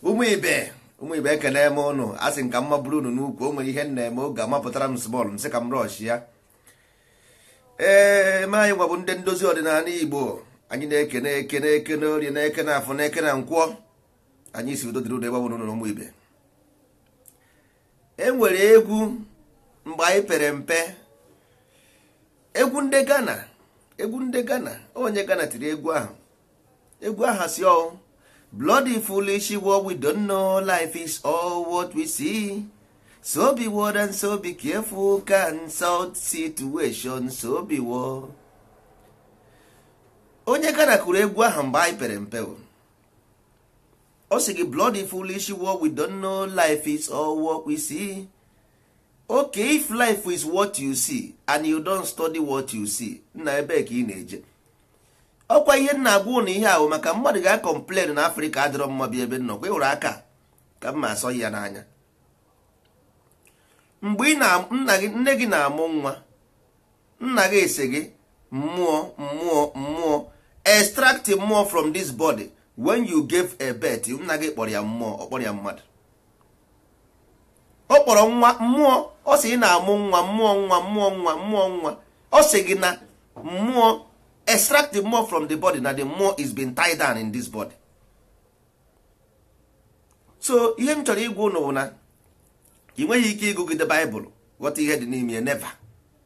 ụmụ ibe ụmụ ibe ekene m ụnụ a sị ka mma bụrụ unu n'ukwu o nwere ihe m na-eme oge mapụtara m small m sị ka m rush ya ee ma anyị nwa bụ ndị ndozi ọdịnala Igbo anyị na-ekene eke na-ekene orie na-ekene afọ na-ekene nkwọ anyị sị udo dịrị ụnụ ebe ọ bụla ụnụ nọ ụmụ ibe e nwere egwu mgbe anyị pere mpe egwu ndị Ghana egwu ndị Ghana onye Ghana tiri egwu ahụ egwu ahụ sị ọ bloody foolish world we don't know life is all what we see so beware and so be careful consult situation so beware. onye Ghana kụrụ egwu ahụ mgbe anyị pere mpe ọ sị gị bloody foolish world we don't know life is all what we see okay if life is what you see and you don't study what you see nna ebe ka ị na-eje ọ kwa ihe m na-agwa ụnụ ihe ahụ maka mmadụ ga-acomplain na Africa adịrọ mma bịa ebe m nọkwa ịhụrụ aka ka m ma asọ ya n'anya mgbe nne gị na-amụ nwa nna gị asị gị mmụọ mmụọ mmụọ extract mmụọ from this body when you gave a birth nna gị kpọrọ ya mmụọ ọ kpọrọ ya mmadụ ọ kpọrọ nwa mmụọ ọ sị ị na-amụ nwa mụọ nwa mụọ nwa mụọ nwa ọ sị gị na mmụọ extract the mmụọ from the body na the mmụọ is being tied down in this body so ihe m chọrọ ịgwa ụnụ bụ na ị nweghị ike ịgụgide Bible ghọta ihe dị n'ime ya never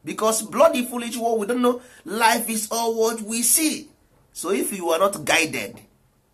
because bloody foolish world we don't know life is all what we see so if you are not guided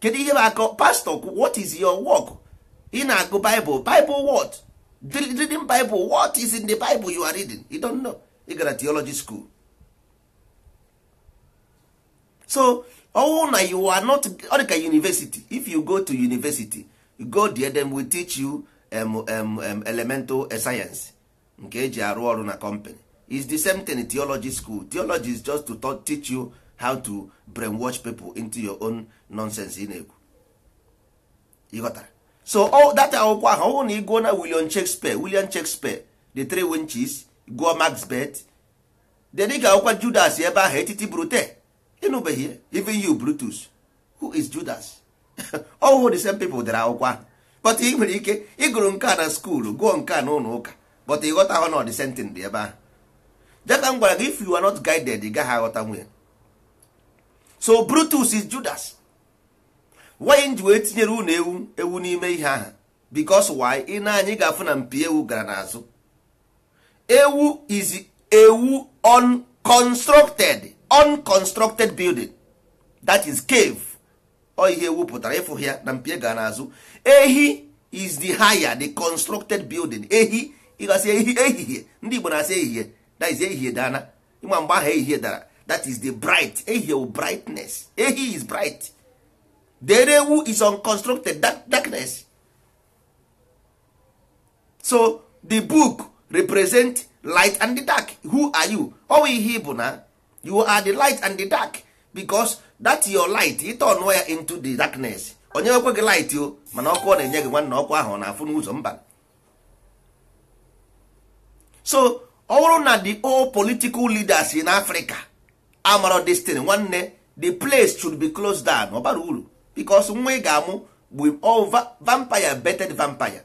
kedu ihe bụ aka ọrụ pastor what is your work ị na-agụ bible bible what reading bible what is in the bible you are reading you don't know ị gara theology school so ọ wụ na you are not ọ dị ka university if you go to university you go there them will teach you um, um, um, elemental science nke e ji arụ ọrụ na company is the same thing in theology school theology is just to talk, teach you how to brainwash people into your own nonsense ị na-ekwu ị ghọtara so all that akwụkwọ ahụ ọ bụrụ na ị gụọ na William Shakespeare William Shakespeare the three winches gụọ Macbeth then ị ga-agụkwa Judas ebe ahụ et tu Brute ị nụbeghị ya even you Brutus who is Judas ọ wụhụ the same people dere akwụkwọ ahụ but ị nwere ike ịgụrụ nke a na school gụọ nke a n'ụlọ ụka but ị ghọtahụ na ọ the same thing dị ebe ahụ dị ka m gwara gị if you are not guided ị gaghị aghọtanwu ya so Brutus is Judas why m ji wee tinyere unu ewu ewu n'ime ihe ahụ because why i nee anya ị ga-afụ na mpi ewu gara n'azụ ewu is ewu unconstructed unconstructed building that is cave ọ ihe ewu pụtara ị fụ ya na mpi e gara n'azụ ehi is the higher the constructed building ehi ị ga-asị ehi ehihie ndị Igbo na-asị ehihie that is ehihie daana ị ma mgbe ahụ ehihie dara that is the bright ehihie brightness ehi is bright the ewu is unconstructed darkness so the book represent light and the dark who are you ọ wụ ihe ị bụ na you are the light and the dark because that your light ị tọnụọ ya into the darkness o nyekwa gị light o mana ọkụ ọ na-enye gị nwanne ọkụ ahụ ọ na-afụ n'ụzọ mba so ọ bụrụ na the all political leaders in Africa amara this thing nwanne the place should be closed down ọ barọ uru because nwa ị ga-amụ bụ all va- vampire birthed vampire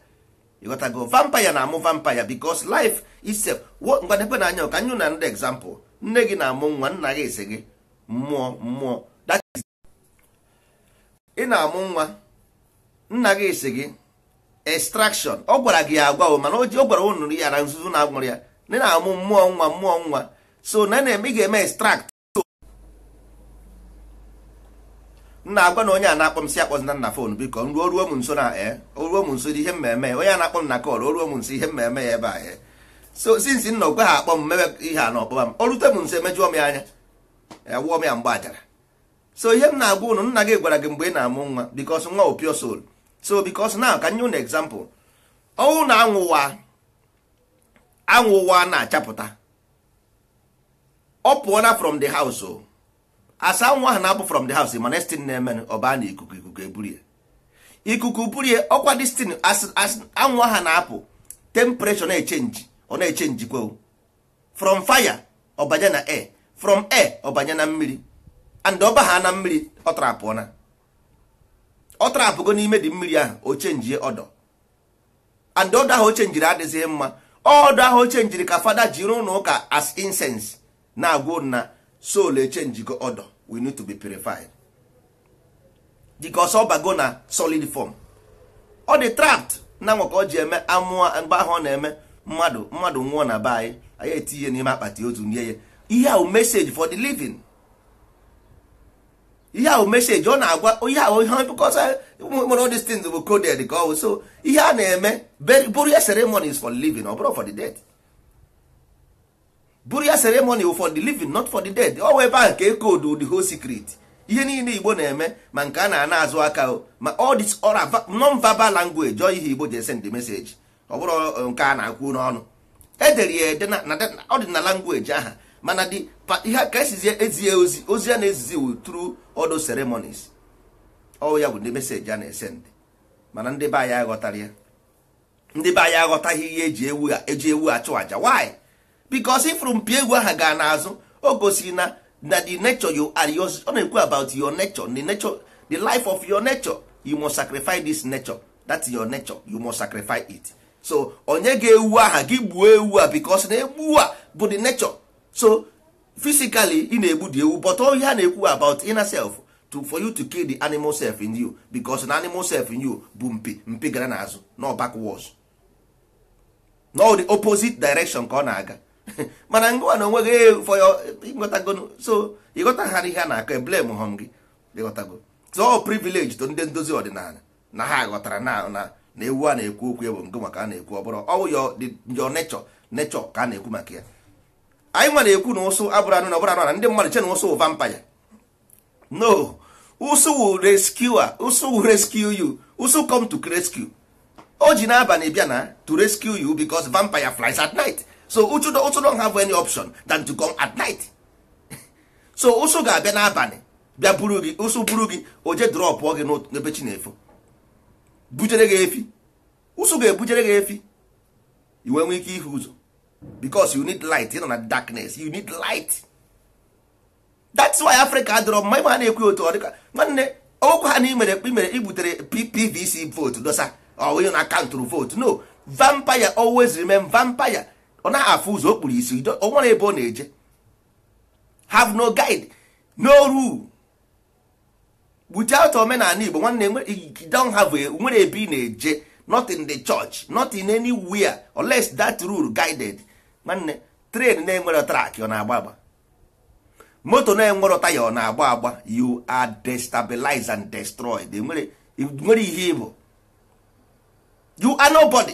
ị ghọtago vampire na-amụ vampire because life itself wo ngwa nekwenụ anya ka m nye ụnụ another example nne gị na-amụ nwa nna gị ese gị mmụọ mmụọ ị na-amụ nwa nna gị sị gị extraction ọ gwara gị agwa o mana o ji- ọ gwara unu ya na nzuzo na agwara ya na ị na-amụ mmụọ nwa mmụọ nwa so na na-eme ị ga-eme extract nna agwa na onye a na-akpọ m sị akpọzina m na fon biko m ruo ruo m nso na e o ruo m nso ihe m me-eme ya onye a na-akpọ m na kọl o ruo m nso ihe m me-eme ya ebe a e so since nna okwe ha akpọ m mebe ihe a na ọ kpọba m o rute m nso emejụọ m ya anya ewụọ m ya mgbe ajara so ihe m na-agwa ụnụ nna gị gwara gị mgbe ị na-amụ nwa because nwa bụ pure soul so because na ka m nye ụnụ example ọ wụ na anwụ a anwụ a na-achapụta ọ pụọla from the house o as anwụ ahụ na-apụ from the house mana steam na-eme ọ baa na ikuku ikuku eburu ya ikuku buru ya ọ kwa destin as anwụ ahụ na-apụ temperature na-echenji ọ na-echenji kwe from fire ọ banye na air from air ọ banye na mmiri and ọ baa na mmiri ọ trapụọna ọ trapụgo n'ime the mmiri ahụ o chenjie odour and odour ahụ o chenjiri adịghị mma odour ahụ o chenjiri ka fada jiri n'ụlọ ụka as incense na-agwa ụnụ na soul echenjigo odour we need to be purified because ọ bago na solid form ọ dị trapped na nwa ka ọ ji eme amụọ mgbe ahụ ọ na-eme mmadụ mmadụ nwụọ na be anyị anyị etinye n'ime akpati ozu nie ya ihe a wụ message for the living ihe a wụ message ọ na-agwa ihe ahụ ihe because nwere all these things bụ coded ka ọ bụ so ihe a na-eme burial ceremony is for living ọ bụrọ for the dead burial ceremony wụ for the living not for the dead ọ wụ ebe ahụ ka e koodu the whole secret ihe niile igbo na-eme ma nke a na-ana azụ aka o ma all this oral va- non-verbal language ọ ihe igbo ji esend message ọ bụrụ ọ, nke a na-akwu n'ọnụ e dere ya ede na na- na- ọ dị na language aha mana dị pa- ihe ka esizie ezie ozi ozi a na-ezizi wụ through all those ceremonies ọ ya bụ ndị message a na-esend mana ndị be anyị aghọtara ya ndị be anyị aghọtaghị ihe e ji ewu e ji ewu achụ aja why because ị fụrụ mpi ewu aha gaa n'azụ o gosiri na na the nature you are yours ọ na-ekwu about your nature the nature the life of your nature you must sacrifice this nature that's your nature you must sacrifice it so o nye gị ewu aha gị gbuo ewu a because na ewu a bụ the nature so physically ị na-egbu the ewu but ihe a na-ekwu about inner self to for you to kill the animal self in you because na animal self in you bụ mpi mpi gara n'azụ no backwards no the opposite direction ka ọ na-aga mana ngwa na onwe gị eh, for your ị ghọtago so ị ghọtaha ihe a na-akọ eblamehọ m gị ị ghọtago so all privilege to ndị ndozi ọdịnala na ha ghọtara na na na ewu a na-ekwu okwu ya bụ nke maka a na-ekwu ọ bụrụ ọ wụ your nature nature ka a na-ekwu maka ya anyị nwa na-ekwu na ụsụ abụrụ anụ ana ọ bụrụ anụ enu ndị mmadụ che na ụsụ wụ vampire no ụsụ will rescue ụsụ will rescue you ụsụ come to rescue o ji n'abalị bịa na to rescue you because vampire flies at night so ụsụ ụsụ don't have any option than to come at night so ụsụ ga-abịa n'abalị bịa buru gị ụsụ buru gị o jee dropụọ gị n'ebe chi na-efo bujere gị ife ụsụ ga-ebujere gị ife i wee nwee ike ịhụ ụzọ because you need light ị nọ na darkness you need light that's why Africa adịrọ mma ị ma na-ekwu otu ọ dịka nwanne okwu ha na i mere i mere i butere PVC vote dosa ọ wụghị na a countụrụ vote no vampire always remain vampire ọ naghị afụ ụzọ o kpuru isi o nwere ebe ọ na-eje have no guide no rule without omenala igbo nwanne you don't have a nwere ebe ị na-eje not in the church not in anywhere unless that rule guided nwanne train na-enwere track ọ na-agba agba moto na-enwere taya ọ na-agba agba you are destabilized and destroyed nwere ihe ị bụ you are nobody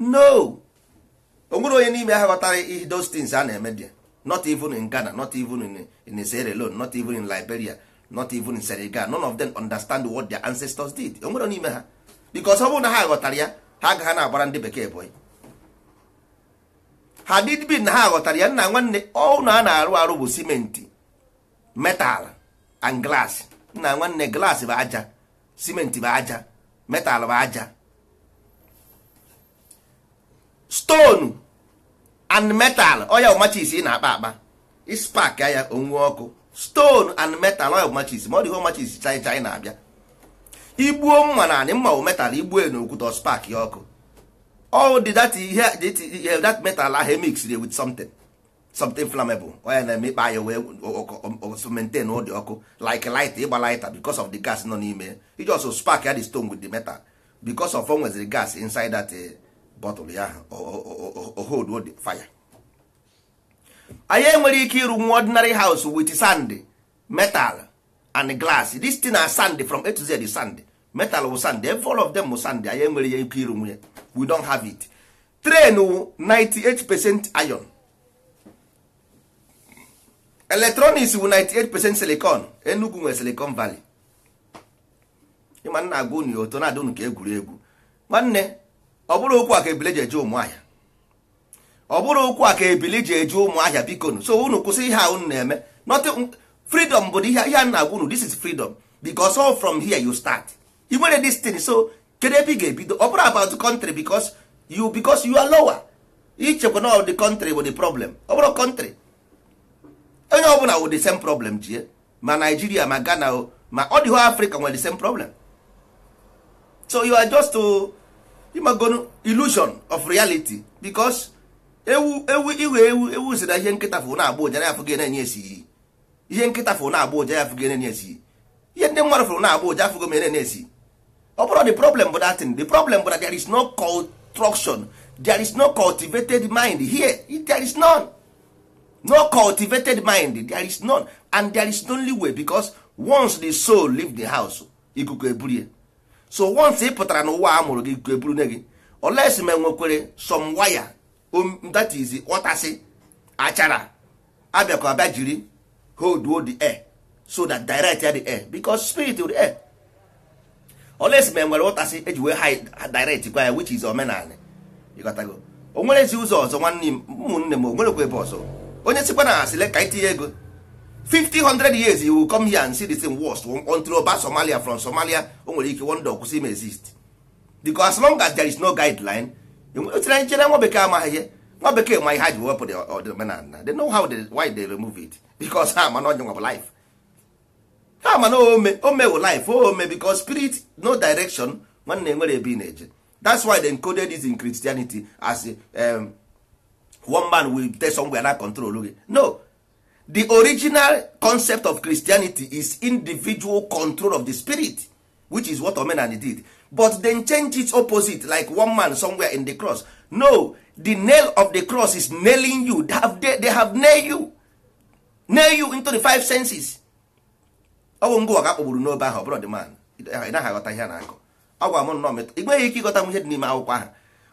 no o nwere onye n'ime ha ghọtara ihe those things a na-eme there not even in Ghana not even in, in Sierra Leone not even in Liberia not even in Senegal none of them understand what their ancestors did o nwere n'ime ha because ọ bụrụ na ha ghọtara ya ha agaghị na-agbara ndị bekee boy had it been na ha ghọtara ya nna nwanne ụnọ a na-arụ arụ bụ simenti metal and glass nna nwanne glass bụ aja cement bụ aja metal bụ aja stone and metal ọ ya wụ matches ị na-akpa akpa ị spark ya o nwee ọkụ stone and metal ọ ya wụ matches ma ọ dịghị matches chai chai na-abịa i gbuo mma n'anị mma bụ metal i gbuo n'okwute spark ya ọkụ all the that, ihe, that metal ahụ mixed with something something flammable ọ ya na-eme ị kpa ya wee maintain ụdị ọkụ like light ịgba lighter because of the gas nọ n'ime iji also spark ya the stone with the metal because of o nweziri gas inside that eh, bottle ya o hold the fire anyị enwerọ ike ịrụ nwa ordinary house with sand metal and glass this thing na sand from A to Z sand metal wụ sand all of them wụ sand anyị enwerọ ike ịrụnwu ya we don't have it train wụ 98 percent iron electronics wụ 98 percent silicon Enugu nwere silicon valley ị ma m na-agwa unu ya oto na-adị unu ka egwuregwu nwanne ọ bụrọ okwu a ka ebili ji eje Ụmụahịa ọ bụrọ okwu a ka ebili ji eje Ụmụahịa biko nu so unu kwụsị ihe a unu na-eme nothing freedom but ihe m na-agwa unu this is freedom because all from here you start i nwerọ this thing so kedu ebe ị ga-ebido ọ bụrọ about country because you because you are lower i chekwa na the country bụ the problem ọ bụrọ country onye ọbụla wụ the same problem jie ma Nigeria ma Ghana o ma all the whole Africa nwere the same problem so you are just ị magonu illusion of reality because ewu ewu iwe ewu ewu sị na ihe nkịta fụ na-agbọ ụja na ya afụgo na-enye esi iyi ihe nkịta fụrụ na-agbọ ụja ya afụgo enene esi ihe ndị mmadụ fụrụ na-agbọ ụja afụgo m enene esi ọ bụrọ the problem bụ that thing the problem bụ that there is no construction there is no cultivated mind here there is none no cultivated mind there is none and there is only way because once the soul leave the house ikuku eburu ya so once ị pụtara n'ụwa a mụrụ gị ikuku eburu ne gị unless ma e nwekwere some wire that is ọtọsị achara abịakọ abịa jiri holduo the air so that direct ya the air because spirit wụ the air unless ma enwere ọtọsị eji wee ha direct kwa ya which is omenala ịghọtago o nwerọzi ụzọ ọzọ nwanne m ụmụnne m o nwerọkwa ebe ọzọ onye sịkwa na asị lee ka itinye ego 50 100 years you will come here and see the same worst until ọ baa Somalia from Somalia o nwere ike one day ọ kwụsị im exist because as long as there is no guideline otere anyị chere nwa bekee amaghị ihe nwa bekee ma ihe ha ji wepụ the omenala they know how they, why they remove it because ha ma na onye nwa bụ life ha ma na ome ome wụ life ome because spirit no direction nwanne enwere ebe ị na-eje that's why they encoded this in Christianity as um, one man will tell somewhere na-control gị no the original concept of Christianity is individual control of the spirit which is what omenani did but then change its opposite like one man somewhere in the cross no the nail of the cross is nailing you they have, they, they have nail you nail you into the five senses ọ bụ ngịwa ka a kpọgburu n'obe ahụ ọ bụrọ the man ị naghị aghọta ihe a na-akọ ọ gwa m nnọọ metụ ị nweghị ike ịghọta ihe dị n'ime akwụkwọ ahụ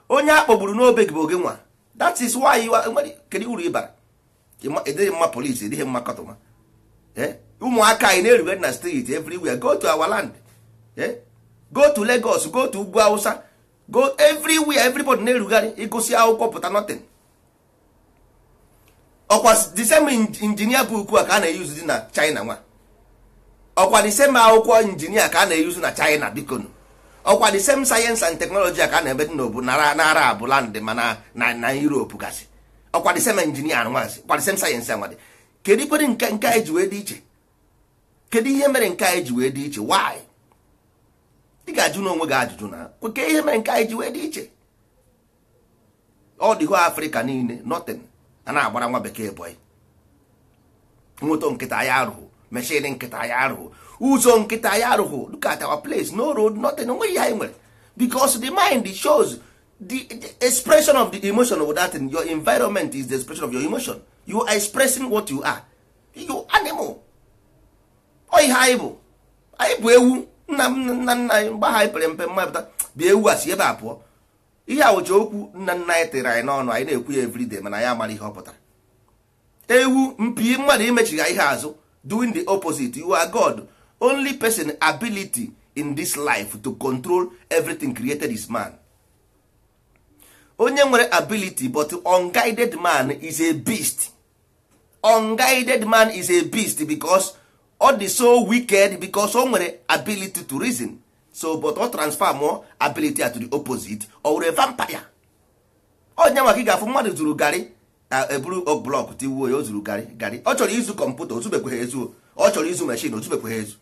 onye a kpọgburu n'obe gị bụ ọ gịnwa that is why you are kedu uru ị bara ị dịghị mma polisi ị dịghị mma kọtụma eh? ụmụaka anyị na-erugharị na street everywhere go to our land eh? go to Lagos go to ugwu Hausa go everywhere everybody na-erugharị ị gụsị akwụkwọ pụta nothing ọkwa the same engineer book a ka a na-eyuzu dị na China nwa ọkwa the same akwụkwọ engineer ka a na-eyuzu na China bikonu ọkwa the same science and technology a ka a na-eme dị n'obu na Arab land ma na Europe gasị ọkwa the same engineer anụnwazi ọkwa the same science anwadị kedu kwa ihe nke nke anyị ji wee dị iche kedu ihe mere nke anyị ji wee dị iche why ị ga-ajụnụ onwe gị ajụjụ na kee ihe mere nke anyị ji wee dị iche ọ dịghị Africa niile nothing a na-agbara nwa bekee boy moto nkịtị anyị arụghụ machine nkịtị anyị arụghụ ụzọ nkịtị anyị arụghụ look at our place no road nothing o nweghị ihe anyị nwere because the mind shows the, the expression of the emotion of that thing, your environment is the expression of your emotion you are expressing what you are you animal ọ ihe anyị bụ anyị bụ ewu nna nna nna anyị mgbe anyị pere mpe mma pụta bịa ewu a si ebe a pụọ ihe a wụcha okwu nna nna anyị tere anyị n'ọnụ anyị na-ekwu ya everyday mana anyị amarọ ihe ọ pụtara ewu mpi mmadụ imechigha ihe azụ doing the opposite you are god only person ability in this life to control everything created is man onye nwere ability but unguided man is a beast unguided man is a beast because ọ dị so wicked because o nwere ability to reason so but ọ transfer more ability to the opposite ọ wụrụ vampire onye nwa ka ị ga-afụ mmadụ zuru garị e buru block tiwuo ya o zuru garị garị ọ chọrọ izu computer o zubekweghị ezu ọ chọrọ izu machine o zubekweghị ezu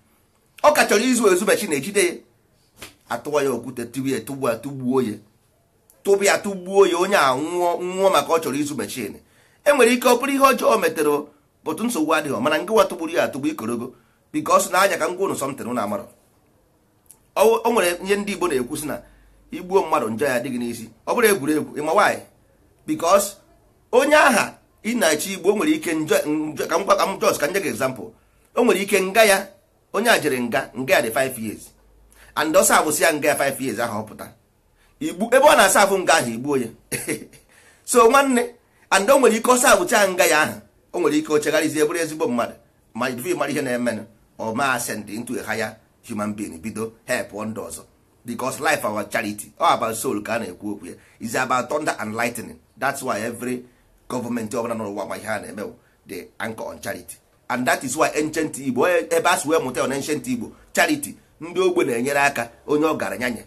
ọ ka chọrọ izu ezu machine e jide ya a tụwa ya okwute tiwe ya tụgbuo ya tụba ya tụgbuo ya onye a nwụọ maka ọ chọrọ izu machine e nwere ike ọ bụrụ ihe ọjọọ o metere but nsogbu adịghị mana ngịwa tụgburu ya atụgbu ikorogo because na anya ka m gwa ụnụ something ụnụ amarọ o nwere ihe ndị Igbo na-ekwu sị na i gbuo mmadụ njọ ya adịghị n'isi ọ bụrụ egwuregwu ị ma why because onye ahụ ị na-achọ igbu o nwere ike ka m gwa ka m just ka nye gị example o nwere ike nga ya onye a jere nga nga ya dị 5 years and ọ servesịa nga ya 5 years ahụ ọ pụta igbu ebe ọ na-aserve nga ahụ i gbuo ya so nwanne and o nwere ike ọ servechaa nga ya ahụ o nwere ike o chegharịzie bụrụ ezigbo mmadụ ma ife mara ihe na-emenụ ọ ma ascend into a higher human being bido help ndị ọzọ because life ọ bụ charity all about soul ka a na-ekwu okwu ya is about thunder and lightning that's why every government ọbụla n'ụwa ma ihe a na-eme they anchor on charity and that is why ancient igbo e, ebe a si wee mụta na ancient igbo charity ndị ogbe na-enyere aka onye ọgaranya nye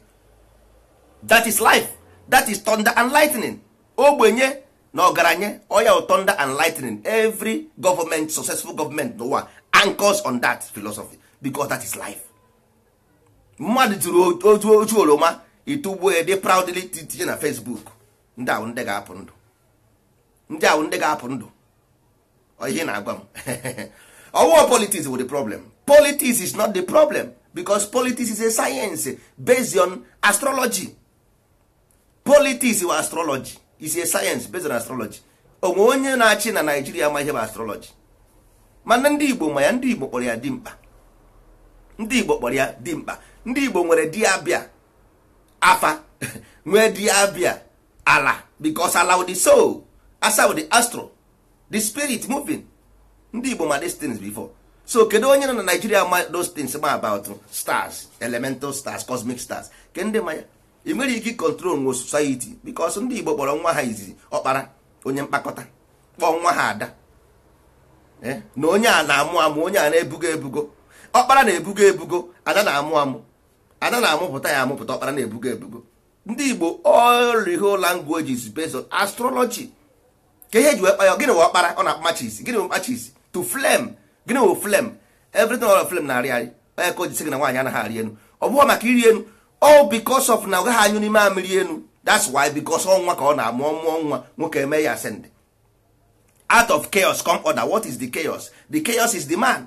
that is life that is thunder and lightning ogbenye na ọgaranya ọ ya thunder and lightning every government successful government n'ụwa anchors on that philosophy because that is life mmadụ tụrụ otu otu oroma ị tụgbuo ya dị proudly tinye na Facebook ndị ahụ ndị ga-apụ ndụ ndị ahụ ndị ga-apụ ndụ ihe na-agwa m ọ wụ politics wụ the problem politics is not the problem because politics is a science based on astrology politics wụ astrology is a science based on astrology o nwee onye na-achị na Nigeria ma ihe bụ astrology mana ndị igbo ma ya ndị igbo kpọrọ ya dimkpa ndị igbo kpọrọ ya dimkpa ndị igbo nwere dibịa afa nwee dibịa ala because ala wụ the soul afa wụ the astro the spirit moving ndị igbo ma these things before so kedu onye nọ na Nigeria ma those things ma about stars elemental stars cosmic stars kee ndị ma ya ị nwere ike controlnwu society because ndị igbo kpọrọ nwa ha izizi ọkpara onye mkpakọta kpọọ nwa ha ada eh? na onye a na-amụ amụ onye a na-ebugo ebugo ọkpara na-ebugo ebugo ada na-amụ amụ ada na-amụpụta ya amụpụta ọkpara na-ebugo ebugo ndị igbo all the whole language is based on astrology kee ihe e ji wee kpọọ ya gịnị wụ ọkpara ọ na-akpa matches gịnị wụ matches to flame gịnị wụ flame everything all of flame na-arị arị ọ ya ka o ji sị gị na nwaanyị anaghị arị enu ọ bụghị maka ịrị enu ọ because of na ọ gaghị anyụli mamịrị enu that's why because ọ nwa ka ọ na-amụ ọ mụọ nwa nwoke e mee ya ascend out of chaos come order what is the chaos the chaos is the man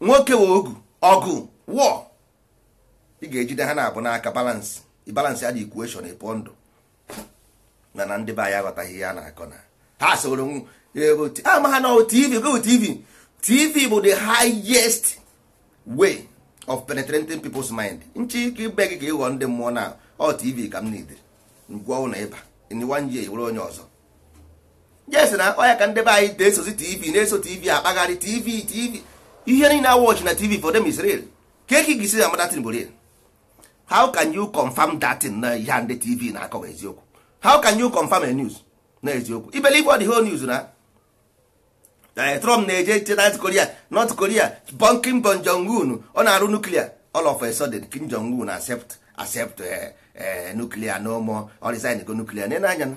nwoke wụ ọgụ ọgụ war ị ga-ejide ha naabọ n'aka balance balance ya the equation ịpụ ndụ na na ndị be anyị aghọtaghị ihe a na-akọ na ha soro ama ha na tv go tv tv bụ the highest way of penetrating people's mind nchi ike ibe gị ka ịghọ ndị mmụọ na ọ tv ka m needịrị ngwanụ ịba in one year wụrụ onye ọzọ yes na ọ ya ka ndị be anyị na-esozi tv na-eso tv akpagharị tv tv ihe niile awọchị na tv for them is real kee ka ị ga-esi ma that thing bụ real how can you confirm that thing na ihe ndị tv na-akọ bụ eziokwu how can you confirm a news na eziokwu ị believe all the whole news na Eh, trump na-eje north korea north korea bụ kim bụ jong un ọ na-arụ nuklia all of a sudden kim jong un accept accept eh, eh, nuklia no more ọ resign go nuklia nee anya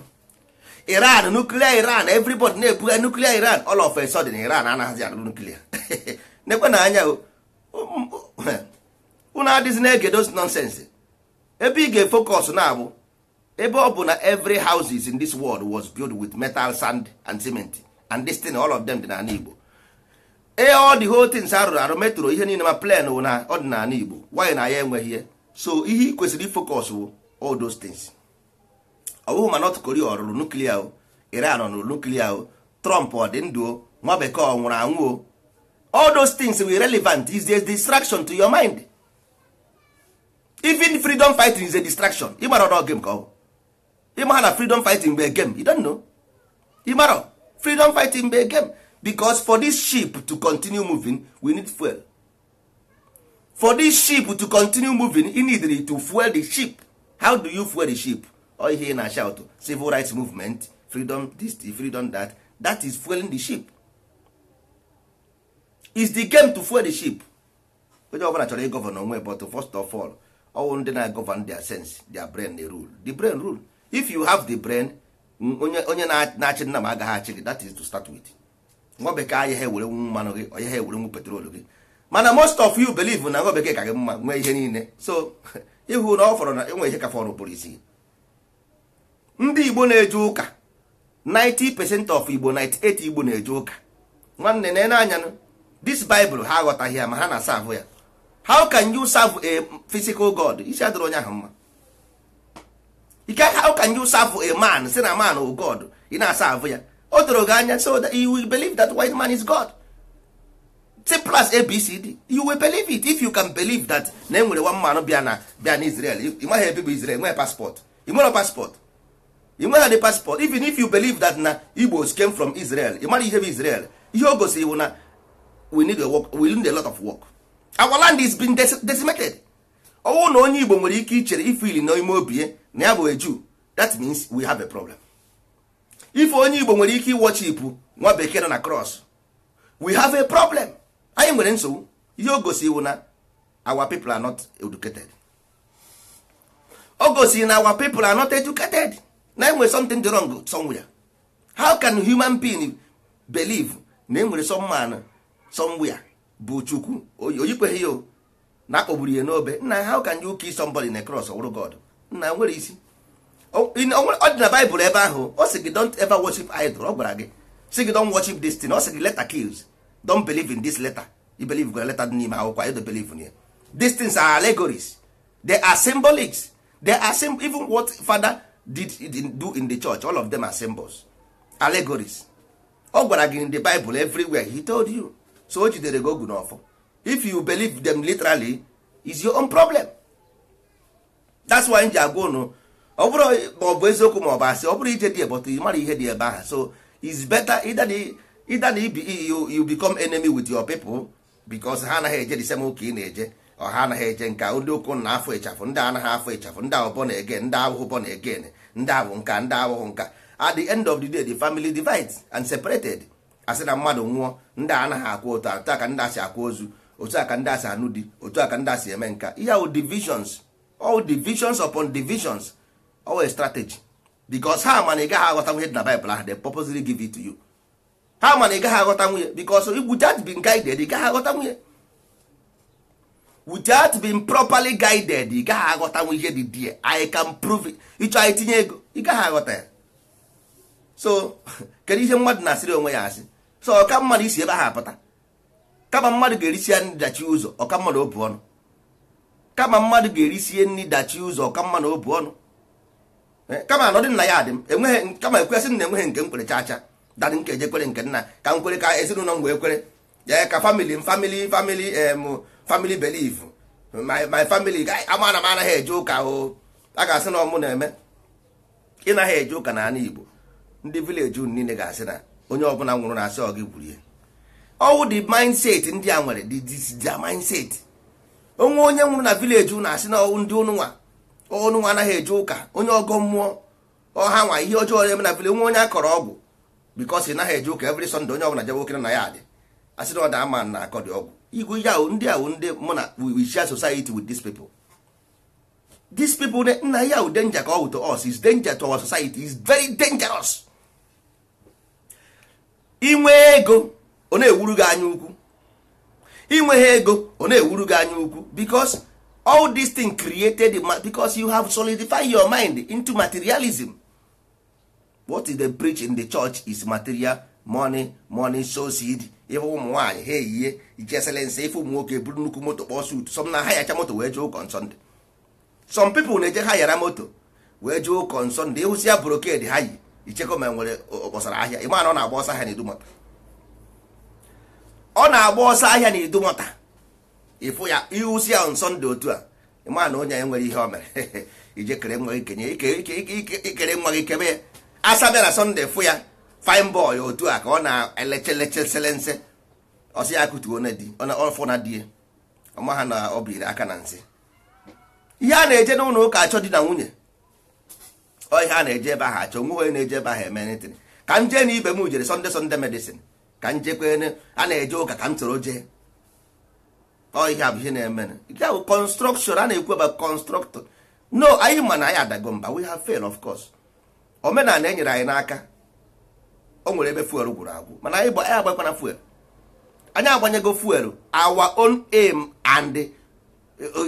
iran nuklia iran everybody na-ebugha nuklia iran all of a sudden iran anaghịzi arụ nuklia nekwanụ anya unu um, um, adịzi na-ege those nonsense ebe ị ga-efokọs na-abụ ebe ọ bụ na every houses in this world was built with metal sand and cement and this thing all of them dị n'ala Igbo ee all the whole things arụrụ arụ metro ihe niile ma plane ọ dị n'ala Igbo why na anyị enweghị ihe so ihe ị kwesịrị ifocus wụ all those things ọ bụghị ma North Korea ọ rụrụ nuklia o Iran ọ rụrụ nuklia o Trump ọ dị ndụ o nwa bekee ọ nwụrụ anwụ o all those things wụ irrelevant is the distraction to your mind even freedom fighting is a distraction ịmara ọdọ game ka ọ ịmara na freedom fighting bụ a game you don't know ịmara freedom fighting bụ a game because for this ship to continue moving we need fuel for this ship to continue moving you need to fuel the ship how do you fuel the ship ọ ihe ị na-ashout civil rights movement freedom this freedom that that is fueling the ship is the game to fuel the ship onye ọbụla chọrọ ịgọvan onwe but first of all ọ wụ ndị na-agọvan their sense their brain na rule the brain rule if you have the brain onye onye na-achị nna m agaghị achị gị that is to start with nwa bekee ayaha ewerenwu mmanụ gị ọ yaha ewerenwu petrol gị mana most of you believe na nwa bekee ka gị mma nwee ihe niile so ị hụ na ọ fọrọ na enwe ihe ka fọrọ ụbụrụ isi ndị igbo na-eje ụka 90 percent of igbo 98 igbo na-eje ụka nwanne na-ene anya this bible ha aghọtaghị ya ma ha na-asavụ ya how can you serve a physical god isi adịrọ onye ahụ mma how can you serve a man sị na man ọ god ị na-asavụ ya o doro gị anya so that you will believe that white man is god simple as abcd you will believe it if you can believe that na enwere one man bịa na bịa na israel ị maghị ebe bụ israel nwere paspọtụ ị nwere paspọtụ ị nweghị the paspọtụ even if you believe that na igbos came from israel ị mara ihe bụ israel ihe o gosiri bụ na we need a work we need a lot of work our land is being deci- decimated ọ wụ na onye igbo nwere ike ichere ifili na ime obi ya na ya bụ a jew that means we have a problem if onye igbo nwere ike iwọchipụ nwa bekee nọ na cross we have a problem anyị nwere nsogbu ihe o gosi wụ na our people are not educated o gosi na our people are not educated na enwere something dị wrong somewhere how can human being believe na enwere some man somewhere bụ chukwu o yikweghị ya na akpọgburu ya n'obe nna how can you kill somebody in a cross ọ wụrụ God nna nwere isi ọ dị na Bible ebe ahụ ọ sị gị don't ever worship idol ọ gwara gị sị gị don't worship this thing ọ sị gị letter kills don't believe in this letter you believe gwara letter dị n'ime akwụkwọ you don't believe in ya these things are allegories they are symbolics they are sim even what father dey do in the church all of them are symbols allegories ọ gwara gị in the bible everywhere he told you so o jidere gị ogu na ọfọ if you believe them literally is your own problem that's why m ji agwa unu ọ bụrụ ma ọ bụ eziokwu ma ọ bụ asị ọ bụrụ ije dị but ị mara ihe dị ebe ahụ so is better either the, either the, e, you, you become enemy with your people because ha anaghị eje the same ụka ị na-eje ọ ha anaghị eje nke ndị ụkwụ na afọ ịchafụ ndị anaghị afọ ịchafụ ndị a wụ born again ndị awụhụ born again ndị a wụ nka ndị awụhụ nka at the end of the day the family divides and separated a sị na mmadụ nwụọ ndị anaghị akwa otu otu a ka ndị a si akwa ozu otu a ka ndị a si anụ di otu a ka ndị a si eme nka ihe ahụ divisions all divisions upon divisions always strategy because ha ma na ị gaghị aghọtanwu ihe dị na Bible ahụ they purposely give it to you ha ma na ị gaghị aghọtanwu ya because without being guided ị gaghị aghọtanwu ya without being properly guided ị gaghị aghọtanwu ihe dị there I can prove it ị chọọ anyị tinye ego ị gaghị aghọta ya so kedu ihe mmadụ na-asịrị onwe ya asị so ọ ka mmadụ isi ebe ahụ apụta kama mmadụ ga-erisie nri dachie ụzọ ọ ka mmadụ obu ọnụ kama mmadụ ga-erisie nri dachie ụzọ ọ ka mmadụ obu ọnụ Eh, kama anọdị nna ya adị m enweghị kama ekwesị m na enweghị nke m kwere chacha daddy nke e ji kwere nke nna ka m kwere ka ezinụlọ m wee kwere ee ka family m family family em family belief my my family ga- ama na m anaghị eje ụka o a ga-asị na ọ mụ na-eme ị naghị eje ụka na ala igbo ndị village unu niile ga-asị na onye ọbụla nwụrụ na a sị ọ gị gburu ya ọ wụ the mindset ndị a nwere the mindset o nwee onye nwụrụ na village unu a sị na ndị unu nwa unu nwa anaghị eje ụka onye ọgọ mmụọ ọ ha nwa ihe ọjọọ na-eme na village nwee onye a kọrọ ọgwụ because ị naghị eje ụka every Sunday onye ọbụla jebe okere na ya adị asị na ọ da ama na akọ dị ọgwụ igwe ihe ahụ ndị ahụ ndị mụ na we share society with these people these people ne nna ya wụ danger ka ọ wụ to us is danger to our society is very dangerous i nwee ego ọ na-ewuru gị anya ukwu i nweghị ego ọ na-ewuru gị anya ukwu because all this thing created because you have solidified your mind into materialism what they preach in the church is material money money sow seed ife ụmụ nwaanyị ha eyiye iche selense ife ụmụ nwoke buru nnukwu moto kpọọ suit some na-ahayacha moto wee jee ụka on Sunday some people na-eje hayara moto wee jee ụka on Sunday ịhụsi ya brocade ha yi ichekọ ma nwere ọ kpọsara ahịa ịma na ọ na-agba ọsọ ahịa na Idumota ọ na-agba ọsọ ahịa na Idumota ịfụ ya ịhụsi ya on Sunday otu a ịma na onye a nwere ihe o mere ije kere nwa gị kenye ike ike ike ike ikere nwa gị kebe ya asa bịara Sunday fụ ya fine boy otu a ka ọ na-eleche leche selense ọ sị ya kụtuo na di ọ fụ na di ya ọ maha na o biri aka na nsị ihe a na-eje n'ụlọ ụka achọ di na nwunye ọ ihe a na-eje ebe ahụ achọ nwe onye na-eje ebe ahụ eme anything ka m jee na ibe m jere Sunday Sunday medicine ka m jekwene a na-eje ụka ka m soro jee ihe a bụ ihe na-eme nke bụ construction a na-ekwu ebe constructor no anyị ma na anyị adago mba we have fail of course omenala e nyere anyị n'aka o nwere ebe fuel gwụrụ agwụ mana anyị agbakwana fuel anyị agbanyego fuel our own aim and eh,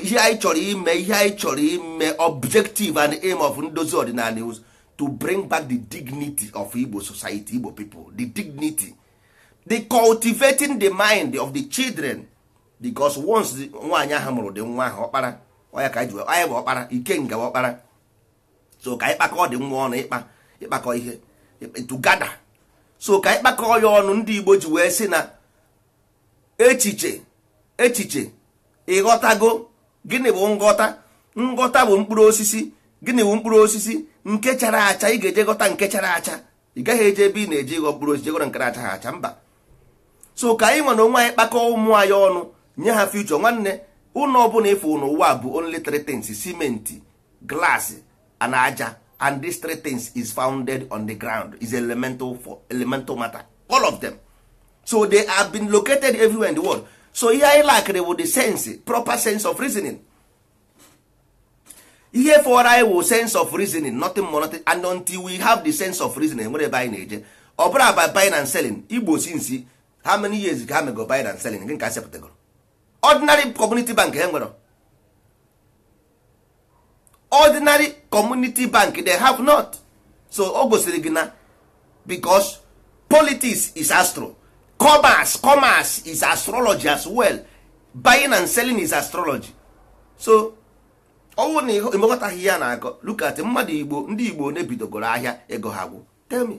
ihe anyị chọrọ ime ihe anyị chọrọ ime objective and aim of ndozi ọdịnala is to bring back the dignity of Igbo society Igbo people the dignity the cultivating the mind of the children because once nwaanyị ahụ mụrụ ụdị nwa ahụ ọkpara ọ ya ka ji anyị bụ ọkpara ikenga ọkpara so ka anyị kpakọ ụdị nwa ọnụ ịkpa ịkpakọ ihe together so ka anyị kpakọọ ya ọnụ ndị Igbo ji wee sị na echiche echiche ịghọtago gịnị bụ nghọta nghọta bụ mkpụrụ osisi gịnị bụ mkpụrụ osisi nke chara acha ị ga-eje ghọta nke chara acha ị gaghị eje ebe ị na-eje ịghọ mkpụrụ osisi jee ghọrọ nke na-achaha acha mba so ka anyị nwa na onwe anyị kpakọọ ụmụ anyị ọnụ nye ha future nwanne ụlọ ọbụla ị fụ n'ụwa bụ only three things cement glass and aja and these three things is founded on the ground is elemental for elemental matter all of them so they have been located everywhere in the world so ihe anyị lackịrị wụ the sense proper sense of reasoning ihe fọrọ anyị wụ sense of reasoning nothing more nothing and until we have the sense of reasoning e nwere ebe anyị na-eje ọ bụrụ aba buying and selling igbo since how many years ka ha mego buying and selling nke asepụtagoro ordinary community bank e nwere ordinary community bank they have not so o gosiri gị na because politics is astro commerce commerce is astrology as well buying and selling is astrology so ọ wụ na ịmekọtaghị ihe a na-akọ look at mmadụ igbo ndị igbo one bidogoro ahịa ego ha gwụ tell me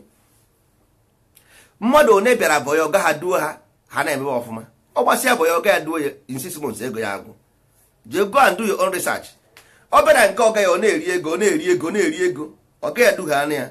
mmadụ one bịara boy ọga ha duo ha ha na-emebe ọfụma ọ gbasịa boy ọga ya duo ya in six months ego ya agwụ just go and do your own research ọ bịara nke ọga ya ọ na-eri ego ọ na-eri ego ọ na-eri ego ọga ya dughị anụ ya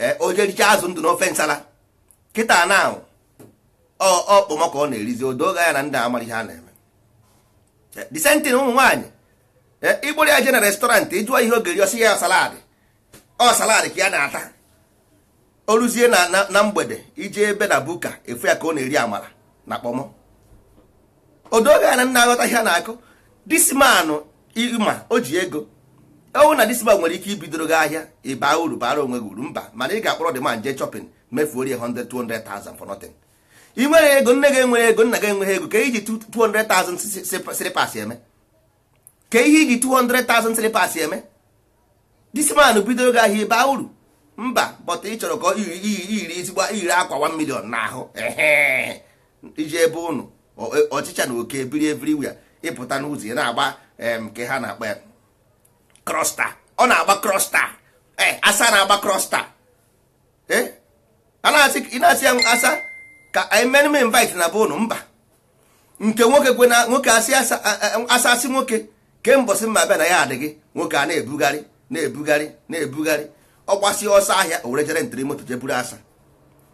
ee o je richaa azụ ndụ n'ofe nsala kịta na ọ wụ kpọmọ ka ọ na-erizi o doo gị anya na ndị a amarọ ihe a na-eme the same thing ụmụ nwaanyị ị kpọrọ ya je na restaurant ị jụọ ihe ọ ga-eri ọ sị ya salad ọ salad ka ya na-ata o ruzie na mgbede i je ebe na buka ị fụ ya ka ọ na-eri amala na kpọmọ o doo gị anya na ndị a aghọtaghị ihe a na-akọ this man ị ma o ji ego ọ wụ na this man nwere ike ibidoro gị ahịa ị baa uru baara onwe gị uru mba mana ị ga-akpọrọ the man jee shopping mefuo rie 100 200,000 for nothing i nwerọ ego nne gị enwerọ ego nna gị enweghị ego ka i ji 200,000 slippers eme kee ihe i ji 200,000 slippers eme this man bidoro gị ahịa ị baa uru mba but ị chọrọ ka ọ yiri yiri yiri ezigbo yiri akwa 1 million n'ahụ ehe i je be ụnụ ọ- ọchịcha na oke biri everywhere ị pụta n'ụzọ ị na-agba em, kee ihe a na-akpọ ya Crosstour ọ na-agba Crosstour ee asa na-agba Crosstour ee a na-asị ị na-asị ya asa ka i meenụ m invite na be ụnụ mba nke nwoke kwe na nwoke asị asa sị nwoke kee mbọsị m ga-abịa na ya adịghị nwoke a na-ebugharị na-ebugharị na-ebugharị ọ gbasịa ọsọ ahịa o were je rentiri moto je buru asa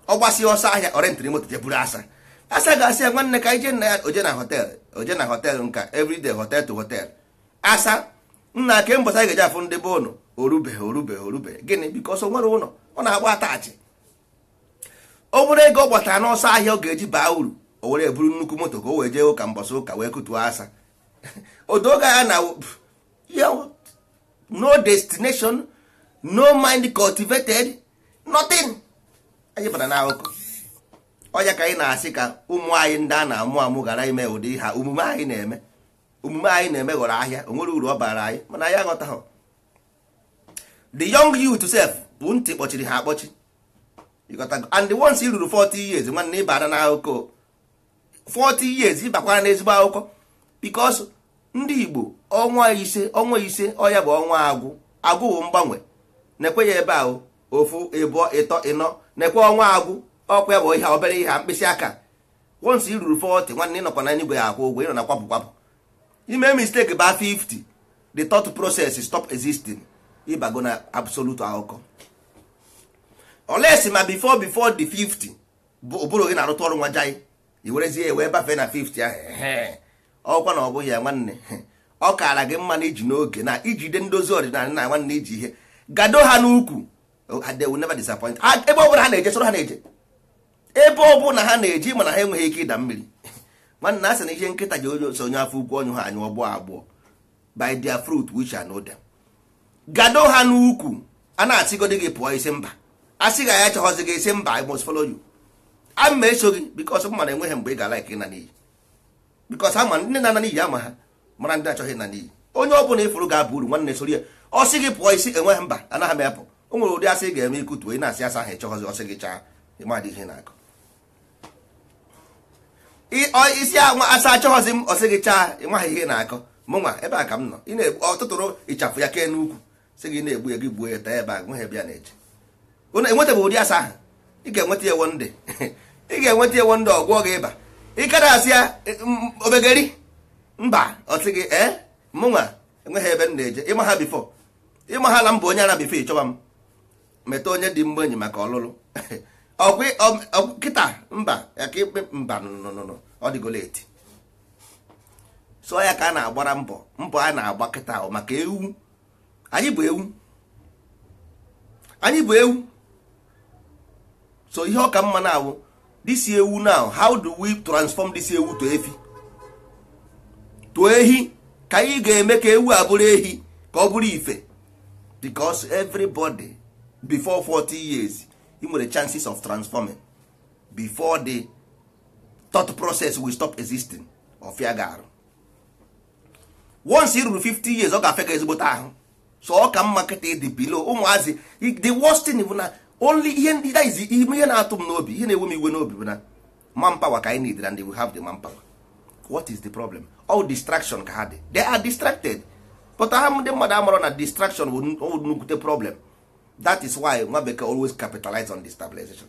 ọ gbasịa ọsọ ahịa ọ rentiri moto je buru asa asa ga-asị ya nwanne ka ije nna ya o je na hotel o je na hotel nke a everyday hotel to hotel asa nna kee mbọsị anyị ga-eji afụ ndị be ụnụ o rubeghị o rubeghị o rubeghị gịnị because o nwerọ ụlọ ọ na-agba attach obere ego ọ gbatara n'ọsọ ahịa ọ ga-eji baa uru o were ya buru nnukwu moto ka o wee jee ụka mbọsị ụka wee kutuo asa o doo gị anya na no destination no mind cultivated nothing anyị bara na akụkọ ọ ya ka anyị na-asị ka ụmụ anyị ndị a na-amụ amụ ghara ime ụdị ha omume anyị na-eme omume anyị na-eme ghọrọ ahịa o nwerọ uru ọ baara anyị mana anyị aghọtaghị the young youth sef bụ ntị kpọchiri ha akpọchi and once i ruru 40 years nwanne ị bara na akụkọ 40 years ị bakwara na ezigbo akụkọ because ndị Igbo ọnwa ise ọnwa ise ọ ya bụ ọnwa Agwụ Agwụ bụ mgbanwe nekwa ya ebe ahụ ofu ịbụọ ịtọ ịnọ nekwa ọnwa Agwụ ọ kwa ya bụ ihe a obere ihe a mkpịsị aka once i ruru 40 nwanne ị nọkwa na enigwe ya-akwụ ụgwọ ị nọ na kwapụ kwapụ i mee mistake baa 50 the thought process stop existing ị bago na absolute akụkọ unless ma before before the 50 bụ ụbụrụ gị na-arụtụ ọrụ nwa jai i werezie ya wee bafee na 50 ahụ ehe. ọkwa na ọ bụghị ya nwanne ọ kaara gị mma na i ji n'oge na i jide ndị ozi ọdịnala na nwanne i ji ihe gado ha n'ukwu they will never disappoint Ha- ebe ọ bụla ha na-eje soro ha na-eje ebe ọ bụla ha na-eje ma na ha enweghị ike ịda mmiri nwanne a sị na ihe nkịta ji eso onye afọ ukwu ọ nyụghị anyụ ọ gbọọ agbọ by their fruit we shall know them gado ha n'ukwu a na-asịgodi gị pụọ ị sị mba a sị gị a chọghịzi gị ị sị mba I must follow you aga m eso gị because m ma na e nweghị mgbe ị ga-ala ike ịna n'iyi because a ma ndị na-ana n'iyi a ma ha mara ndị na-achọghị ịna n'iyi onye ọbụla ị fụrụ ga-aba uru nwanne soro ya ọ sị gị pụọ ị sị enweghị mba anaghị m apụ o nwere ụdị asa ị ga-eme ikutu ị na-asị asa ahụ ị chọghịzi ọ sị gị chaa ị maghị ihe ị na-akọ ị sị anwa asa achọghịzi m ọ sị gị chaa ị maghị ihe ị na-akọ mụnwa ebe a ka m nọ ị na-egbu ọ tụtụrụ ịchafụ ya kee n'ukwu sị gị na-egbu ya gị gbuo ya taa ebe a nweghị ebe ya na-eje Unu enwetabeghị ụdị asa ahụ ị ga-enweta ya ewo ndị ị ga-enweta ewo ndị ọ gwọọ gị ịba ị ka na-asị ya eh m- obegeri mba ọ sị gị ee mụnwa enweghị ebe m na-eje ị maghị before ị maghị na m bụ onye ara before ị chọba m meta onye dị mma enyi maka ọlụlụ ọkwa ị- ọ- ọ- kịta mba ya ka ikpe mba nụnụnụnụ ọ dịgo late so ya ka a na-agbara mbọ mbọ a na-agba kịta ahụ maka ewu anyị bụ ewu anyị bụ ewu so ihe ọ ka mma na-awụ this ewu now how do we transform this ewu to efi to ehi ka anyị ga-eme ka ewu a bụrụ ehi ka ọ bụrụ ife because everybody before 40 years i nwere chances of transforming before the thought process will stop existing ọ fịa gị arụ once i ruru 50 years ọ ga-afịa gị ezigbote ahụ so ọ ka mma kịta ị dị below ụmụazị the worst thing bụ na only ihe ndị that is ihe na-atụ m n'obi ihe na-ewe m iwe n'obi bụ na manpower ka anyị need and we have the manpower what is the problem ọ distraction ka ha dị they are distracted but ha ndị mmadụ amarọ na distraction bụ nnukwute problem that is why nwa bekee always capitalize on destabilization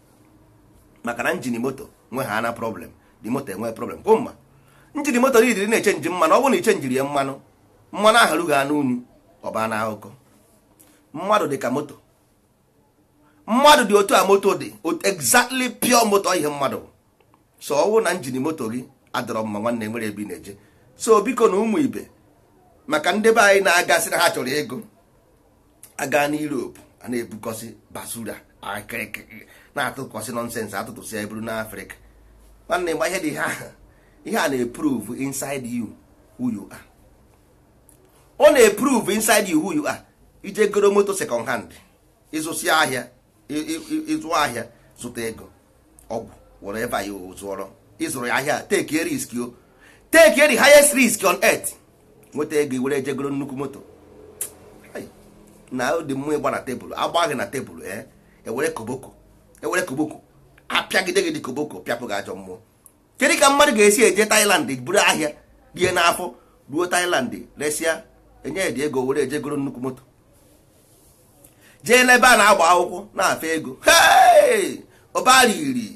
maka na engine moto nwehana problem the moto enwee problem kwụ mma engine moto niile na-echenji mmanụ ọ bụrụ na i chenjirọ ya mmanụ mmanụ ahụ ruhana unyi ọ baa n'akụkọ mmadụ dị ka moto mmadụ dị otu a moto dị exactly pure moto ihe mmadụ so ọ bụrụ na engine moto gị adịrọ mma nwanne e nwerọ ebe ị na-eje so bikonụ ụmụ ibe maka ndị be anyị na-agasị na ha chọrọ igo a gaa na Europe a na-ebukọsị basura na-atụkọsị nonsense atụtụsịa buru naa Africa nwanne gba ihe dị ha ihe a na-eprove inside you who you are ọ na-eprove inside you who you are i je goro moto second hand ị zụsịa ahịa ịzụ ahịa zụta ego ọgwụ whatever ị zụọrọ ịzụrụ ya ahịa take risk o take the highest risk on earth nweta ego ị were jee goro nnukwu moto na dị mmụọ ịgba na tebụl agbaghị na tebụl ee eh? ewere koboko ewere koboko apịagide gị dị koboko pịapụ gị ajọ mmụọ kedu ka mmadụ ga-esi eje Thailand buru ahịa tie n'afọ ruo Thailand resịa e nye ya dị ego were jee goro nnukwu moto jee n'ebe a na-agba akwụkwọ na-afe ego ọbara iri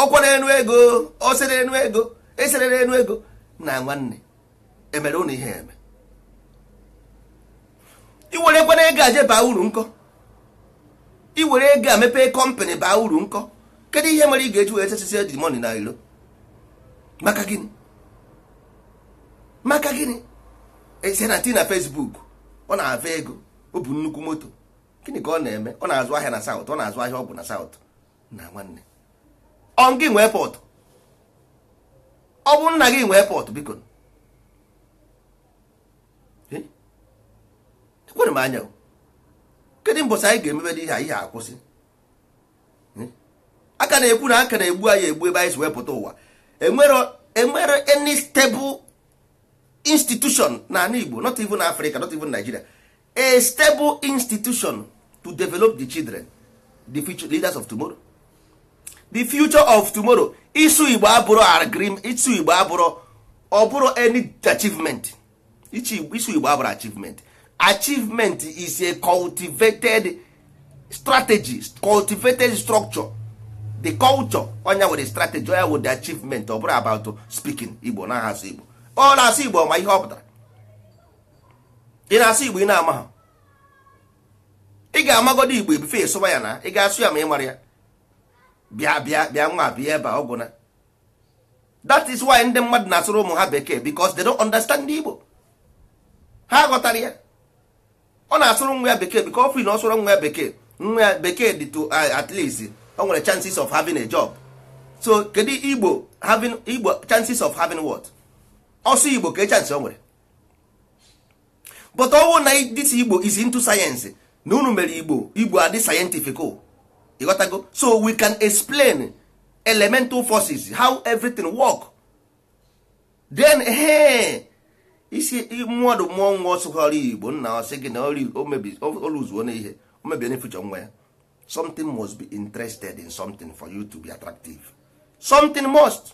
ọkwara enu ego osere enu ego esere enu ego nna nwanne e mere ụnụ ihe eme i werekwanụ ego a jee baa uru nkọ i were ego a mepee company baa uru nkọ kedu ihe mere ị ga-eji wee chesisie the money na ilo maka gịnị maka gịnị e see na tii na Facebook ọ na-afe ego o bu nnukwu moto gịnị ka ọ na-eme ọ na-azụ ahịa na South ọ na-azụ ahịa ọgwụ na South nna nwanne ọ gị nwee port ọ bụ nna gị nwee port biko ekwere m anya kedu mbọsị anyị ga-emebe dị ihe ihe a kwụsị a ka na-ekwu na a ka na-egbu anyị egbu ebe anyị si wee pụta ụwa e nwere any stable institution na ani Igbo not even Africa not even Nigeria a stable institution to develop the children the future leaders of tomorrow the future of tomorrow ịsụ igbo abụrọ agreement ịsụ igbo abụrọ ọ bụrọ any achievement ịsụ igbo abụrọ achievement achievement is a cultivated strategy cultivated structure the culture ọ ya wụ the strategy ọ ya wụ the achievement ọ bụrọ about speaking igbo na-asụ igbo ọ na-asụ igbo ma ihe ọ pụtara ị na-asụ igbo ị na-ama ha ị ga-amagodu igbo before ịsụba ya na ị ga-asụ ya ma ị mara ya bịa bịa bịa nwa bịa ebe a ọ gwụna that is why ndị mmadụ na-asụrụ ụmụ ha bekee because they don't understand igbo ha aghọtarọ ya ọ na-asụrụ nwa ya bekee because ọ feel na ọ sụrụ nwa ya bekee nwa ya bekee dị to uh, at least o nwere chances of having a job so kedu igbo chances of having what ọ sụọ igbo kee chance o nwere but ọ wụrụ na this igbo is into science na unu mere igbo igbo adị scientific oh. ịghọtago so we can explain elemental forces how everything work then hey, ị sị mmadụ mụọ nwa ọ sụọrọ igbo nna ọ sị gị na oluzuo na ihe o mebie na future nwa ya something must be interested in something for you to be attractive something must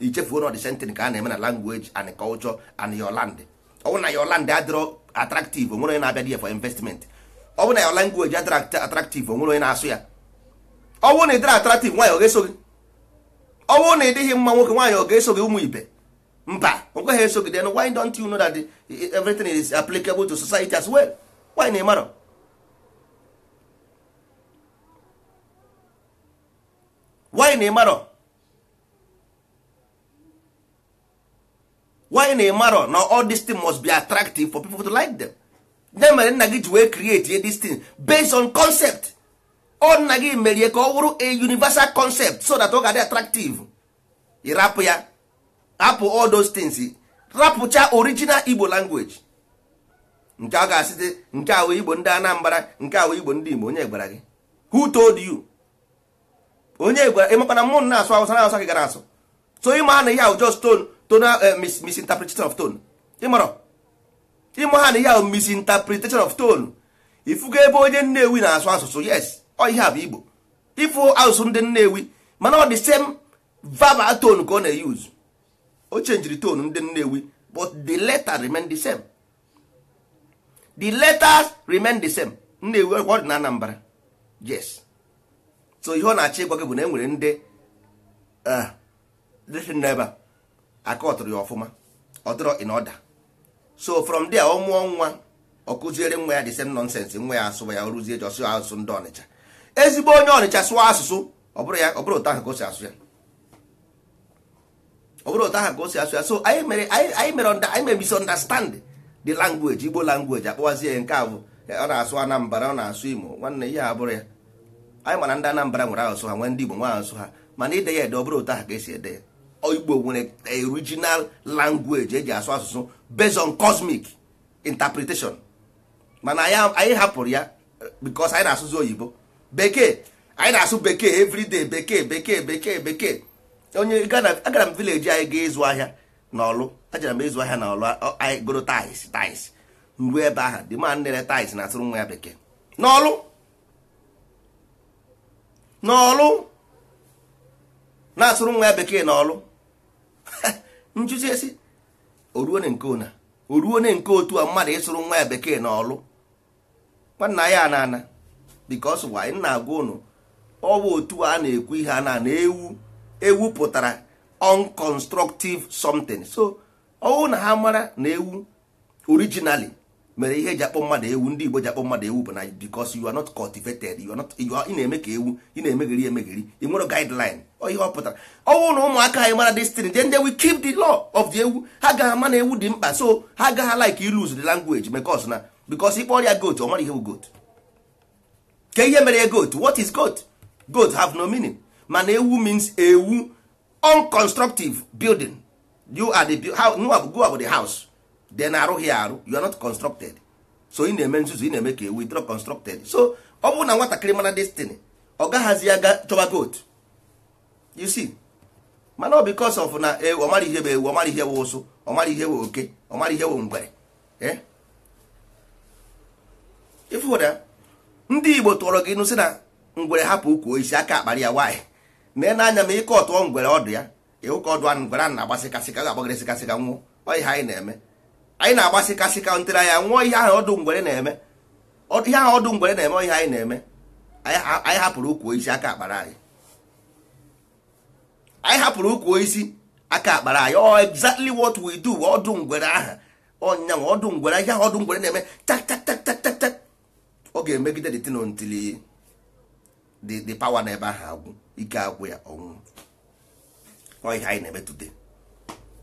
ichefuo na ọ the same thing ka a na-eme na language and culture and your land ọ bụrụ na your land adịrọ attractive onwere onye na-abịa there for investment ọ bụrụ na your language adịrọ act- attractive onwere onye na-asụ ya ọ bụrụ na ị dịrọ attractive nwaanyị ọ ga-eso gị ọ bụrụ na ị dịghị mma nwoke nwaanyị ọ ga-eso gị ụmụ ibe mba o kweghị eso gị then why don't you know that the- everything is applicable to society as well why na ị marọ why na ị marọ why na ịmarọ na all this thing must be attractive for people to like them ya mere nna gị ji wee create this thing based on concept ọ nna gị merie ka ọ wụrụ a universal concept so that ọ ga-adị attractive ịrapụ ya rapụ all those things rapụcha original igbo language nke a ga-asịte nke a wụ igbo ndị anambra nke a wụ igbo ndị igbo onye gwara gị who told you onye gwara ịmakwa na mụ na-asụ awụsa na awụsa ka ị gara asụ so ịma ha na ihe a wụ just tone tonal eh, mis- misinterpretation of tone ịmarọ ịma ha na ihe a wụ misinterpretation of tone ifugo ebe onye nnewi na-asụ asụsụ yes ọ ihe a bụ igbo ịfụ asụsụ ndị nnewi mana ọ the same verbal tone ka ọ na-use o changere tone ndị nnewi but the letter remain the same the letters remain the same nnewi ọ dị na Anambra yes so ihe ọ na-achọ ịgwa gị bụ na e nwere ndị eh, ndị si n'ebe a aka ọtụrụ ya ọfụma ọ dịrọ in order so from there ọ mụọ nwa ọ kụziere nwa ya the same nonsense nwa ya asụba ya ọ rụzie ji ọsụ asụsụ ndị ọnịcha ezigbo onye ọnịcha sụọ asụsụ ọ bụrụ otu ahụ ka o si asụ ya ọ bụrụ otu ahụ ka o si asụ ya so anyị mere anyị mere anyị mere misunderstand the language igbo language akpọwazie ya nke a bụ ọ na-asụ anambra ọ na-asụ imo nwanne ihe a bụrọ ya anyị ma na ndị anambra nwere asụsụ ha nwee ndị igbo nwe asụsụ ha mana ide ya ede ọ bụrụ otu ahụ ka esi ede ya igbo nwere original language eji asụ asụsụ based on cosmic interpretation mana anyị hapụrụ ya because anyị na-asụzi oyibo bekee anyị na-asụ bekee everyday bekee bekee bekee bekee onye agara m village anyị gaa ịzụ ahịa na ọlụ ajara m ịzụ ahịa na ọlụ anyị goro tyres tyres m ruo ebe ahụ the man na-ere tyres na-asụrụ nwa ya bekee n'ọlụ n'ọlụ na-asụrụ nwa ya bekee n'ọlụ m jụzie sị o ruone nke ọna o ruone nke otu a mmadụ ịsụrụ nwa ya bekee n'ọlụ nwanna ya na ana because why m na-agwa unu ọ bụ otu a na-ekwu ihe a na na ewu ewu pụtara unconstructive something so ọwụ na ha mara na ewu originally mere ihe eji akpọ mmadụ ewu ndị Igbo ji akpọ mmadụ ewu bụ na because you are not cultivated you are not ị na-eme ka ewu ị na-emegheri emegheri ị nwere guideline ihe ọ pụtara ọ wụ na ụmụaka anyị mara this thing then they will keep the law of the ewu ha ga-ama na ewu dị mkpa so ha agaghị like ị lose the language because na because ị kpọọrọ ya goat ọ mara ihe bụ goat kee ihe mere ya goat what is goat goat have no meaning mana ewu means ewu unconstructive building you are the how gị nwa bụ the house then arụghị ya arụ you are not constructed so ị na-eme nzuzu ị na-eme ka ewu ị dịrọ constructed so ọ bụrụ na nwatakịrị mara this thing ọ gaghazi aga chọba goat you see mana ọ because of na ewu ọ mara ihe bụ ewu ọ mara ihe bụ ụsụ ọ mara ihe bụ oke ọ mara ihe bụ ngwere eh? ị fụ na ndị igbo tụọrọ gị inu sị na ngwere hapụ ukwu osisi aka akpara ya nwanne nee anya ma ị katuo ngwere ọdụ ya ị hụ ka ọdụ ngwere a na-agba sịkasịka ga-agbagịrị sịkasịka nwụọ ọ ihe anyị na-eme anyị na-agba sịkasịka until anyị anwụọ ihe ahụ ọdụ ngwere na-eme ihe ahụ ọdụ ngwere na-eme ihe anyị na-eme anyị hapụrụ ukwu osisi aka akpara anyị anyị hapụrụ ukwu osisi aka akpara anyị ọ exactly what we do ọdụ ngwere aha ọ ya wụ ọdụ ngwere ihe ahụ ọdụ ngwere na-eme tak tak tak tak tak ọ ga-emegide the thing until the the power na ebe ahụ agwụ ike agwụ ya ọ nwụọ ọ ihe anyị na-eme today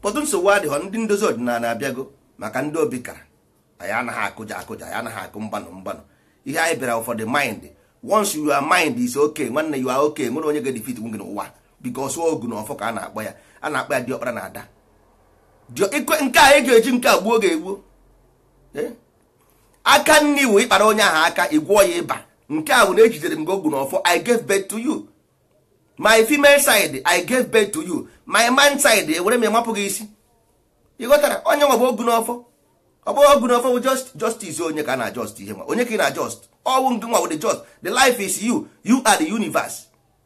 but nsogbu adịghọ ndị ndozi ọdịnala abịago maka ndị obi kara anyị anaghị akụja akụja anyị anaghị akụ mgbanụ mgbanụ ihe anyị bịara for the mind once your mind is okay nwanne you are okay nwerọ onye ga-edefeat nwu gị n'ụwa because ogu na ọfọ ka a na-akpọ ya a na-akpọ ya diọkpara na ada Dio- ikwe- nke a eji eji nke a gbuo ga-egbuo Eh? aka nni wụ ị kpara onye ahụ aka ị gwọọ ya ịba nke a wụ na ejidere m gị ogu n'ọfọ i gave birth to you my female side i gave birth to you my man side ewere m ịmapụ gị isi ị ghọtara ọ ya nwa bụ ogu n'ọfọ ọ bụghị ogu n'ọfọ bụ just justice onye ka ị na just ihe nwa onye ka ị na just ọ wụ ngị nwa wụ the just the life is you you are the universe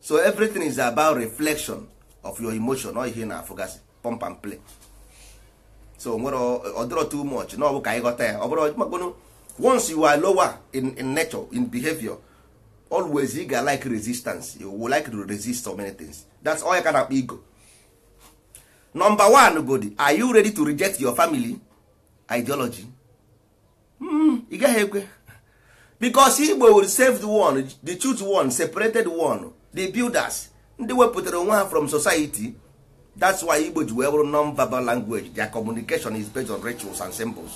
so everything is about reflection of your emotion ọ ihe na-afụgasị pump and play so nwere ọ dịrọ too much na ọ bụ ka anyị ghọta ya ọ bụrụ makpụnụ once you are lower in, in nature in behavior always ị ga like resistance you will like to resist so many things that's all ọ ya ka a na-akpọ ego number one godi are you ready to reject your family ideology hmm, ị gaghị ekwe because igbo will save the one the choose one separated one the builders ndị wepụtara onwe ha from society that's why igbo ji wee bụrụ non-verbal language their communication is based on rituals and symbols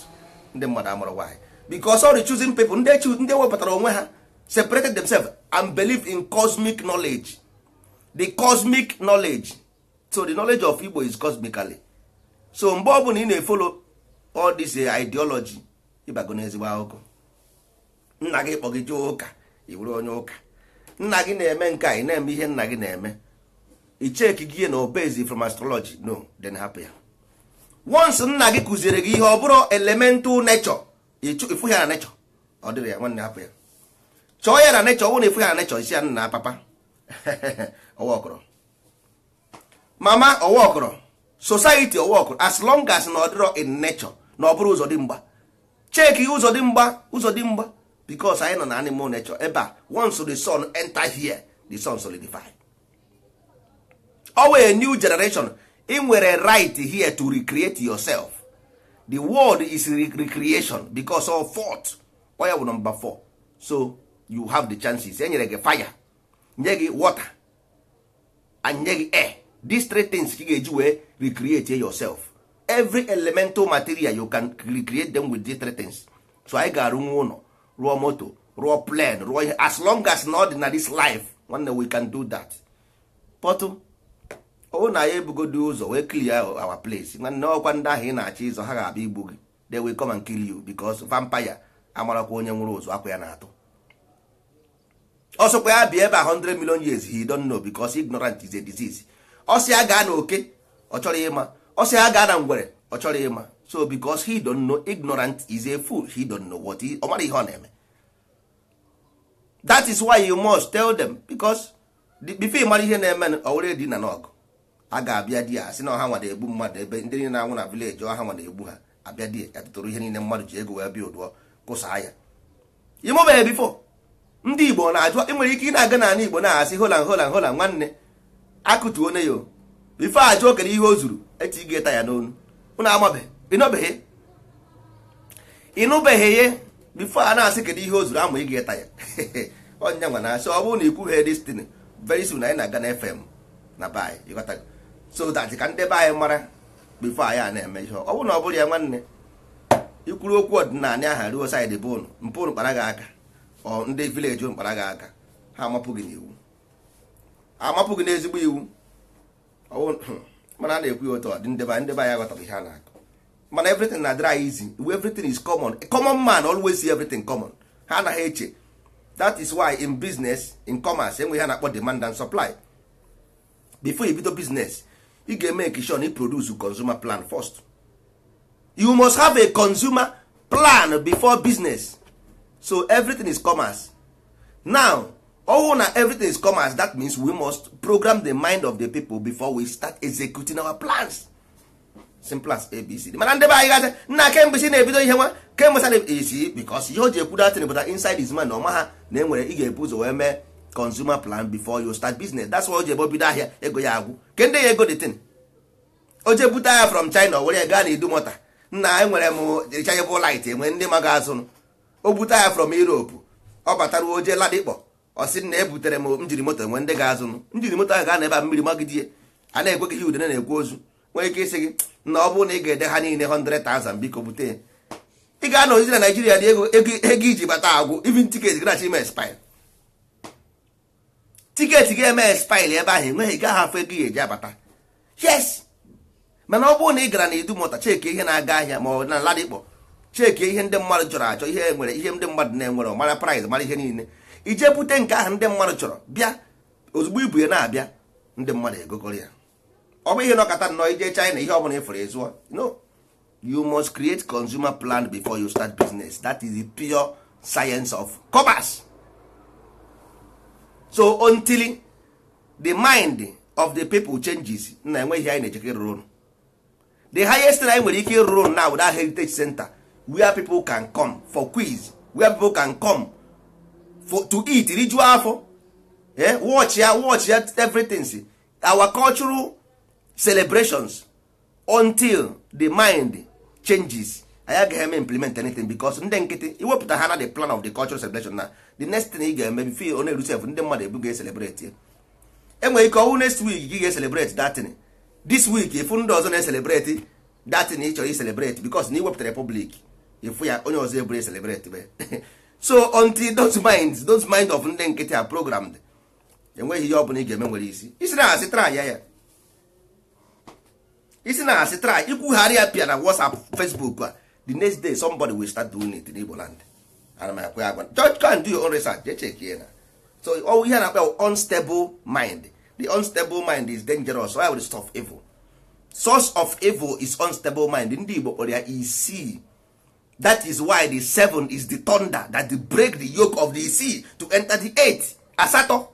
ndị mmadụ amarọ why because all the chosen people ndị wepụtara onwe ha separated themselves and believe in cosmic knowledge the cosmic knowledge so the knowledge of igbo is cosmically so mgbe ọ bụla ị na-efolo all this eh, ideology ịbago n'ezigbo akụkọ nna gị kpọ gị jee ụka ị bụrụ onye ụka nna gị na-eme nke a ị na-eme ihe nna gị na-eme i cheki gị ihe na obezi from astrology no then hapụ ya once nna gị kụziere gị ihe ọ bụrụ elemental nature ịchụ- ịfụ ya na nature ọ dịrọ ya nwanne hapụ ya chọọ ya na nature ọ bụrụ na ịfụ ya na nature ị sị ya nna papa ọwa ọkọrọ mama ọwa ọkọrọ society ọwa ọkọrọ as long as na ọ dịrọ in nature na ọ bụrụ ụzọ dị mgba cheki ụzọ dị mgba ụzọ dị mgba because anyị nọ na animal nature ebe a once the sun enter here the sun solidify ọ wụ a new generation ị nwere right here to recreate yourself the world is recreation because of fourth ọ ya bụ number 4 so you have the chances enyere gị fire nye gị water and nye gị air these three things ka ị ga-eji wee recreate yourself every elemental material you can recreate them with these three things so anyị ga-arụnwu ụlọ rụọ moto rụọ plane rụọ ihe as long as na ọ dị na this life nwanne we can do that but ọ wụ na anyị ebugodo ụzọ wee clear our place nwanne ọkwa ndị ahụ ị na-achọ ịzọ ha ga-abịa igbu gị they will come and kill you because vampire amarakwa onye nwụrụ ụzọ akwa ya na-atụ ọ sọkwa ya bịa ebe a 100 million years he don't know because ignorant is a disease ọ sị ya gaa na oke ọ chọrọ ịma ọ sị ya gaa na ngwere ọ chọrọ ịma so because he don't know ignorant is a fool he don't know what he ọ mara ihe ọ na-eme that is why you must tell them because before ị mara ihe na-eme ọ wụrụ edi na n'ọgụ a ga-abịa di ya asị na ọ ha nwa na-egbu mmadụ ebe ndị niile na-anwụ na village ọ ha nwa na-egbu ha abịa di ya tụtụrụ ihe niile mmadụ ji ego wee buildụọ kụsaa ya ịnụbeghị before ndị igbo na-ajụ ị nwere ike ị na-aga n'ala igbo na-asị hola hola hola nwanne akụtuo onye ahụ before ajụọ kedu ihe o zuru eti gị tyre n'onu ụnụ amabeghị ịnụbeghị ịnụbeghị ya before a na-asị kedu ihe o zuru ama gị tyre onye nwa na-asị ọ bụrụ na ikwughị this thing very soon anyị na-aga na fm na be anyị ịghọtago so that ka ndị be anyị mara before anyị a na-eme ihe ọ bụrụ na ọ bụrụ ya nwanne ikwuru okwu ọdịnala aha ruo side bụ ụnụ mpụ ụnụ kpara gị aka ọ ndị village ụnụ kpara gị aka ha amapụ gị n'iwu amapụ gị n'ezigbo iwu mana a na-ekwu ya otu ọ dị ndị be anyị ndị be anyị aghọtara ihe a na-akọ mana everything na-adịrị easy everything is common a common man always see everything common ha anaghị eche that is why in business in commerce enwe ihe a na-akpọ demand and supply before you bido business ị ga-emake sure na i produce consumer plan first you must have a consumer plan before business so everything is commerce now ọ wụ na everything is commerce that means we must program the mind of the people before we start executing our plans simple as abc mana ndị be anyị ga-asị nna kemgbe si na-ebido ihe nwa kemgbe sa na-esi because ihe o ji ekwu datin but inside his mind na ọ maha na enwere ị ga-ebu ụzọ wee mee consumer plan before you start business that's why o ji ebe o bido ahịa ego ya agwụ kee ndị ya-ego the thing o je bute ahịa from china were ya gaa na idumota nna enwere m rechargeable light enwe ndị ma ga-azụnụ o bute ahịa from europe ọ batara o je ladipo ọ sị na ebutere m engine moto enwe ndị ga-azụnụ engine moto ahụ ga-anọ ebe a mmiri magide ya a na-ekwe gị ihe udene na-ekwe ozu nwere ike ịsị gị na ọ bụrụ na ị ga-ere ha niile 100,000 biko bute ya ị ga-anọzi na naijiria dị ego ego ego i ji bata agwụ even tiketi gị na-achọ ime expire tiketi ga-eme expire ebe ahụ enweghị gaghị afụ ego ị ya-eji abata yes mana ọ bụrụ na ị gara na idumota cheki ihe na-aga ahịa ma ọ na ladipo cheki ihe ndị mmadụ chọrọ achọ ihe e nwere ihe ndị mmadụ na-enwere mara price mara ihe niile i je bute nke ahụ ndị mmadụ chọrọ bịa ozugbo i bu ya na-abịa ndị mmadụ egokọrọ ya ọ bụghị ị nọkata nnọọ i je China ihe ọbụla ị fụrụ ị zụọ no you must create consumer plan before you start business that is the pure science of commerce so until the mind of the people changes na enwe ihe anyị na-ejekere rụrụ ụnụ the highest thing anyị nwere ike ịrụrụ ụnụ now that heritage center where people can come for quiz where people can come for, to eat rijuo afọ eh, watch ya watch ya everything see our cultural celebrations until the mind changes anyị agaghị eme implement anything because ndị nkịtị i wepụta ha na the plan of the cultural celebration na the next thing ị ga-eme bifo ọ na-eru sef ndị mmadụ ebu ga-eselebreti enwere ike ọ wụ next week gị ga-eselebreti datin this week ị fụ ndị ọzọ na-eselebreti datin ị chọrọ iselebreti because na i wepụtara public ị fụ ya onye ọzọ eburu eselebreti be so until those minds those mind of ndị nkịtị are programmed enweghị ihe ọ bụla ị ga-eme nwere isi ị sị na asị try ya ya ị sị na asị try ikwugharị ya pịa na WhatsApp Facebook a the next day somebody will start doing it n'Igbo land ana m akwe agwa just go and do your own research je check ya na so ọ wụ ihe a na-akpa bụ unstable mind the unstable mind is dangerous ọ ya wụ source of evil source of evil is unstable mind ndị Igbo kpọrọ ya isii that is why the seven is the thunder that break the yoke of the six to enter the eight asatọ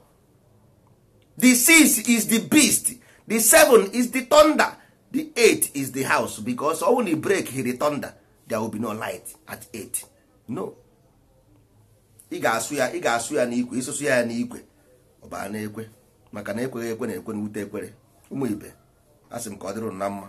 the six is the beast the seven is the thunder the eight is the house because ọ na e break-ighị the thunder there will be no light at eight no ị ga-asụ ya ị ga-asụ ya n'ikwe ị sụsịa ya n'ikwe ọ bịa na-ekwe maka na ekweghị ekwe na-ekwe na ute ekwere ụmụ ibe asị m ka ọ dịrị na mma